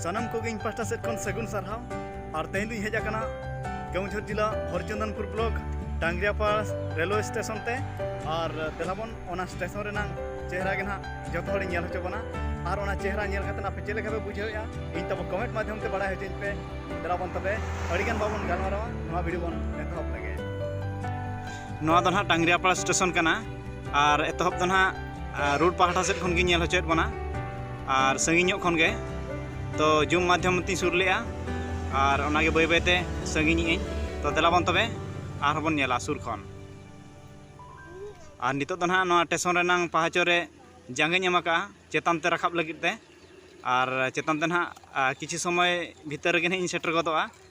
ᱥᱟᱱᱟᱢ ᱠᱚᱜᱮ ᱤᱧ ᱯᱟᱥᱴᱟ ᱥᱮᱫ ᱠᱷᱚᱱ ᱥᱟᱹᱜᱩᱱ ᱥᱟᱨᱦᱟᱣ ᱟᱨ ᱛᱮᱦᱮᱧ ᱫᱚᱧ ᱦᱮᱡ ᱟᱠᱟᱱᱟ ᱠᱮᱣᱡᱷᱚᱨ ᱡᱤᱞᱟ Harichandanpur block Dangriapada railway station ᱛᱮ ᱟᱨ ᱫᱮᱞᱟᱵᱚᱱ ᱚᱱᱟ ᱥᱴᱮᱥᱚᱱ ᱨᱮᱱᱟᱜ ᱪᱮᱦᱨᱟ ᱜᱮ ᱱᱟᱦᱟᱜ ᱡᱚᱛᱚ ᱦᱚᱲᱤᱧ ᱧᱮᱞ ᱦᱚᱪᱚ ᱵᱚᱱᱟ ᱟᱨ ᱚᱱᱟ ᱪᱮᱦᱨᱟ ᱧᱮᱞ ᱠᱟᱛᱮ ᱟᱯᱮ ᱪᱮᱫ ᱞᱮᱠᱟ ᱯᱮ ᱵᱩᱡᱷᱟᱹᱣᱮᱜᱼᱟ ᱤᱧ ᱛᱟᱵᱚ ᱠᱚᱢᱮᱱᱴ ᱢᱟᱫᱽᱫᱷᱚᱢ ᱛᱮ ᱵᱟᱲᱟᱭ ᱦᱚᱪᱚᱧ ᱯᱮ ᱫᱮᱞᱟᱵᱚᱱ ᱛᱚᱵᱮ ᱟᱹᱰᱤᱜᱟᱱ ᱵᱟᱵᱚᱱ ᱜᱟᱞᱢᱟᱨᱟᱣᱟ ᱱᱚᱣᱟ ᱵᱷᱤᱰᱤᱭᱳ ᱵᱚᱱ ᱮᱛᱚᱦᱚᱵ ᱞᱮᱜᱮ ᱱᱚᱣᱟ ᱫᱚ ᱱᱟᱦᱟᱜ ᱰᱟᱝᱜᱽᱨᱤᱭᱟᱯᱟᱲ ᱥᱴᱮᱥᱚᱱ ᱠᱟᱱᱟ ᱟᱨ ᱮᱛᱚᱦᱚᱵ ᱫᱚ ᱱᱟᱦᱟᱜ ᱨᱳᱰ ᱯᱟᱦᱴᱟ ᱥᱮᱫ ᱠᱷᱚᱱ ᱜᱮ ᱧᱮᱞ ᱦᱚᱪᱚᱭᱮᱫ ᱵᱚᱱᱟ ᱟᱨ ᱥᱟᱺᱜᱤᱧ ᱧᱚᱜ ᱠᱷᱚᱱ ᱜᱮ ᱛᱚ ᱡᱩᱢ ᱢᱟᱫᱽᱫᱷᱚᱢ ᱛᱮᱧ ᱥᱩᱨ ᱞᱮᱜᱼᱟ ᱟᱨ ᱚᱱᱟᱜᱮ ᱵᱟᱹᱭ ᱵᱟᱹᱭᱛᱮ ᱥᱟᱺᱜᱤᱧᱮᱜ ᱟᱹᱧ ᱛᱚ ᱫᱮᱞᱟ ᱵᱚᱱ ᱛᱚᱵᱮ ᱟᱨᱦᱚᱸ ᱵᱚᱱ ᱧᱮᱞᱟ ᱥᱩᱨ ᱠᱷᱚᱱ ᱟᱨ ᱱᱤᱛᱚᱜ ᱫᱚ ᱱᱟᱦᱟᱜ ᱱᱚᱣᱟ ᱴᱮᱥᱚᱱ ᱨᱮᱱᱟᱝ ᱯᱟᱦᱟᱪᱚ ᱨᱮ ᱡᱟᱸᱜᱟᱧ ᱮᱢ ᱟᱠᱟᱜᱼᱟ ᱪᱮᱛᱟᱱ ᱛᱮ ᱨᱟᱠᱟᱵ ᱞᱟᱹᱜᱤᱫ ᱛᱮ ᱟᱨ ᱪᱮᱛᱟᱱ ᱛᱮ ᱱᱟᱦᱟᱜ ᱠᱤᱪᱷᱩ ᱥᱚᱢᱚᱭ ᱵᱷᱤᱛᱟᱹᱨ ᱨᱮᱜᱮ ᱱᱟᱦᱟᱜ ᱤᱧ ᱥᱮᱴᱮᱨ ᱜᱚᱫᱚᱜᱼᱟ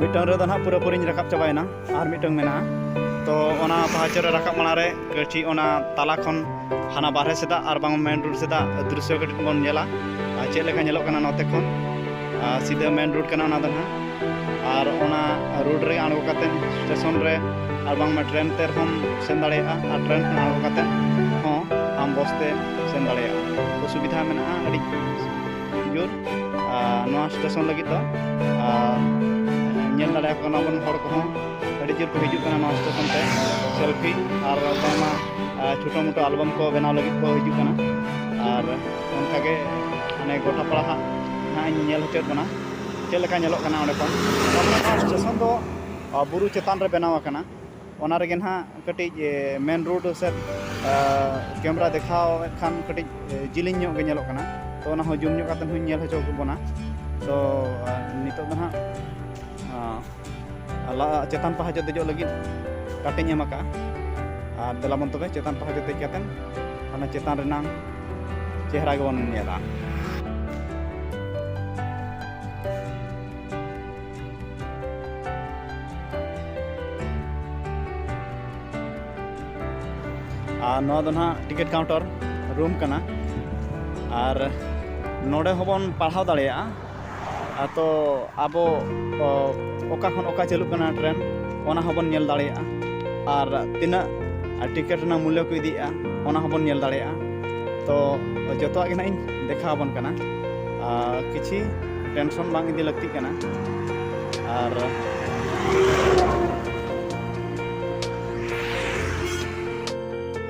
ᱢᱤᱫᱴᱟᱝ ᱨᱮᱫᱚ ᱱᱟᱦᱟᱜ ᱯᱩᱨᱟᱹ ᱯᱩᱨᱤᱧ ᱨᱟᱠᱟᱵ ᱪᱟᱵᱟᱭᱮᱱᱟ ᱟᱨ ᱢᱤᱫᱴᱟᱝ ᱢᱮᱱᱟᱜᱼᱟ ᱛᱚ ᱚᱱᱟ ᱯᱟᱦᱟᱪᱚ ᱨᱮ ᱨᱟᱠᱟᱵ ᱢᱟᱲᱟᱝ ᱨᱮ ᱠᱟᱹᱴᱤᱡ ᱚᱱᱟ ᱛᱟᱞᱟ ᱠᱷᱚᱱ ᱦᱟᱱᱟ ᱵᱟᱨᱦᱮ ᱥᱮᱫᱟᱜ ᱟᱨ ᱵᱟᱝ ᱢᱮᱱ ᱨᱳᱰ ᱥᱮᱫᱟᱜ ᱫᱨᱤᱥᱥᱚ ᱠᱟᱹᱴᱤᱡ ᱵᱚᱱ ᱧᱮᱞᱟ ᱟᱨ ᱪᱮᱫ ᱞᱮᱠᱟ ᱧᱮᱞᱚᱜ ᱠᱟᱱᱟ ᱱᱚᱛᱮ ᱠᱷᱚᱱ ᱟᱨ ᱥᱤᱫᱷᱟᱹ ᱢᱮᱱ ᱨᱳᱰ ᱠᱟᱱᱟ ᱚᱱᱟ ᱫᱚ ᱱᱟᱦᱟᱜ ᱟᱨ ᱚᱱᱟ ᱨᱳᱰ ᱨᱮ ᱟᱬᱜᱚ ᱠᱟᱛᱮ ᱥᱴᱮᱥᱚᱱ ᱨᱮ ᱟᱨ ᱵᱟᱝᱢᱟ ᱴᱨᱮᱱ ᱛᱮ ᱨᱮᱦᱚᱸᱢ ᱥᱮᱱ ᱫᱟᱲᱮᱭᱟᱜᱼᱟ ᱟᱨ ᱴᱨᱮᱱ ᱠᱷᱚᱱ ᱟᱬᱜᱚ ᱠᱟᱛᱮ ᱦᱚᱸ ᱟᱢ ᱵᱚᱥ ᱛᱮ ᱥᱮᱱ ᱫᱟᱲᱮᱭᱟᱜᱼᱟ ᱛᱚ ᱥᱩᱵᱤᱫᱷᱟ ᱢᱮᱱᱟᱜᱼᱟ ᱟᱹᱰᱤ ᱡᱳᱨ ᱱᱚᱣᱟ ᱥᱴᱮᱥᱚᱱ ᱞᱟᱹᱜᱤᱫ ᱫᱚ ᱟᱨ ᱧᱮᱞ ᱫᱟᱲᱮᱭᱟᱠᱚ ᱠᱟᱱᱟ ᱵᱚᱱ ᱦᱚᱲ ᱠᱚᱦᱚᱸ ᱟᱹᱰᱤ ᱡᱳᱨ ᱠᱚ ᱦᱤᱡᱩᱜ ᱠᱟᱱᱟ ᱱᱚᱣᱟ ᱥᱴᱮᱥᱚᱱ ᱛᱮ ᱥᱮᱞᱯᱷᱤ ᱟᱨ ᱵᱟᱝᱢᱟ ᱪᱷᱳᱴᱳ ᱢᱳᱴᱳ ᱟᱞᱵᱟᱢ ᱠᱚ ᱵᱮᱱᱟᱣ ᱞᱟᱹᱜᱤᱫ ᱠᱚ ᱦᱤᱡᱩᱜ ᱠᱟᱱᱟ ᱟᱨ ᱚᱱᱠᱟᱜᱮ ᱢᱟᱱᱮ ᱜᱚᱴᱟ ᱯᱟᱲᱟ ᱦᱟᱸᱜ ᱱᱟᱦᱟᱜ ᱤᱧ ᱧᱮᱞ ᱦᱚᱪᱚᱭᱮᱫ ᱵᱚᱱᱟ ᱪᱮᱫ ᱞᱮᱠᱟ ᱧᱮᱞᱚᱜ ᱠᱟᱱᱟ ᱚᱸᱰᱮ ᱠᱷᱚᱱ ᱛᱟᱨᱢᱟᱱᱮ ᱱᱚᱣᱟ ᱥᱴᱮᱥᱚᱱ ᱫᱚ ᱵᱩᱨᱩ ᱪᱮᱛᱟᱱ ᱨᱮ ᱵᱮᱱᱟᱣ ᱟᱠᱟᱱᱟ ᱚᱱᱟ ᱨᱮᱜᱮ ᱱᱟᱦᱟᱜ ᱠᱟᱹᱴᱤᱡ ᱢᱮᱱ ᱨᱳᱰ ᱥᱮᱫ ᱠᱮᱢᱮᱨᱟ ᱫᱮᱠᱷᱟᱣᱮᱫ ᱠᱷᱟᱱ ᱠᱟᱹᱴᱤᱡ ᱡᱤᱞᱤᱧ ᱧᱚᱜ ᱜᱮ ᱧᱮᱞᱚᱜ ᱠᱟᱱᱟ ᱛᱚ ᱚᱱᱟ ᱦᱚᱸ ᱡᱩᱢ ᱧᱚᱜ ᱠᱟᱛᱮᱫ ᱦᱚᱧ ᱧᱮᱞ ᱦᱚᱪᱚ ᱠᱮᱫ ᱵᱚᱱᱟ ᱛᱚ ᱱᱤᱛᱳᱜ ᱫᱚ ᱱᱟᱦᱟᱜ ᱞᱟᱦᱟ ᱪᱮᱛᱟᱱ ᱯᱟᱦᱟ ᱡᱚᱛᱚ ᱫᱮᱡᱚᱜ ᱞᱟᱹᱜᱤᱫ ᱠᱟᱴᱮᱧ ᱮᱢ ᱟᱠᱟᱫᱼᱟ ᱟᱨ ᱫᱮᱞᱟ ᱵᱚᱱ ᱛᱚᱵᱮ ᱪᱮᱛᱟᱱ ᱯᱟᱦᱟ ᱡᱚᱛᱚ ᱫᱮᱡ ᱠᱟᱛᱮᱱ ᱚᱱᱟ ᱪᱮᱛᱟᱱ ᱨᱮᱱᱟᱝ ᱪᱮᱦᱨᱟ ᱜᱮᱵᱚᱱ ᱧᱮᱞᱟ ᱟᱨ ᱱᱚᱣᱟ ᱫᱚ ᱱᱟᱦᱟᱜ ᱴᱤᱠᱤᱴ ᱠᱟᱣᱩᱱᱴᱟᱨ ᱨᱩᱢ ᱠᱟᱱᱟ ᱟᱨ ᱱᱚᱰᱮ ᱦᱚᱸᱵᱚᱱ ᱯᱟᱲᱦᱟᱣ ᱫᱟᱲᱮᱭᱟᱜᱼᱟ ᱛᱚ ᱟᱵᱚ ᱚᱠᱟ ᱠᱷᱚᱱ ᱚᱠᱟ ᱪᱟᱹᱞᱩᱜ ᱠᱟᱱᱟ ᱴᱨᱮᱱ ᱚᱱᱟ ᱦᱚᱸᱵᱚᱱ ᱧᱮᱞ ᱫᱟᱲᱮᱭᱟᱜᱼᱟ ᱟᱨ ᱛᱤᱱᱟᱹᱜ ᱴᱤᱠᱤᱴ ᱨᱮᱱᱟᱜ ᱢᱩᱞᱞᱚ ᱠᱚ ᱤᱫᱤᱭᱮᱜᱼᱟ ᱚᱱᱟ ᱦᱚᱸᱵᱚᱱ ᱧᱮᱞ ᱫᱟᱲᱮᱭᱟᱜᱼᱟ ᱛᱚ ᱡᱚᱛᱚᱣᱟᱜ ᱜᱮ ᱱᱟᱜ ᱤᱧ ᱫᱮᱠᱷᱟᱣ ᱟᱵᱚᱱ ᱠᱟᱱᱟ ᱟᱨ ᱠᱤᱪᱷᱤ ᱴᱮᱱᱥᱚᱱ ᱵᱟᱝ ᱤᱫᱤ ᱞᱟᱹᱠᱛᱤᱜ ᱠᱟᱱᱟ ᱟᱨ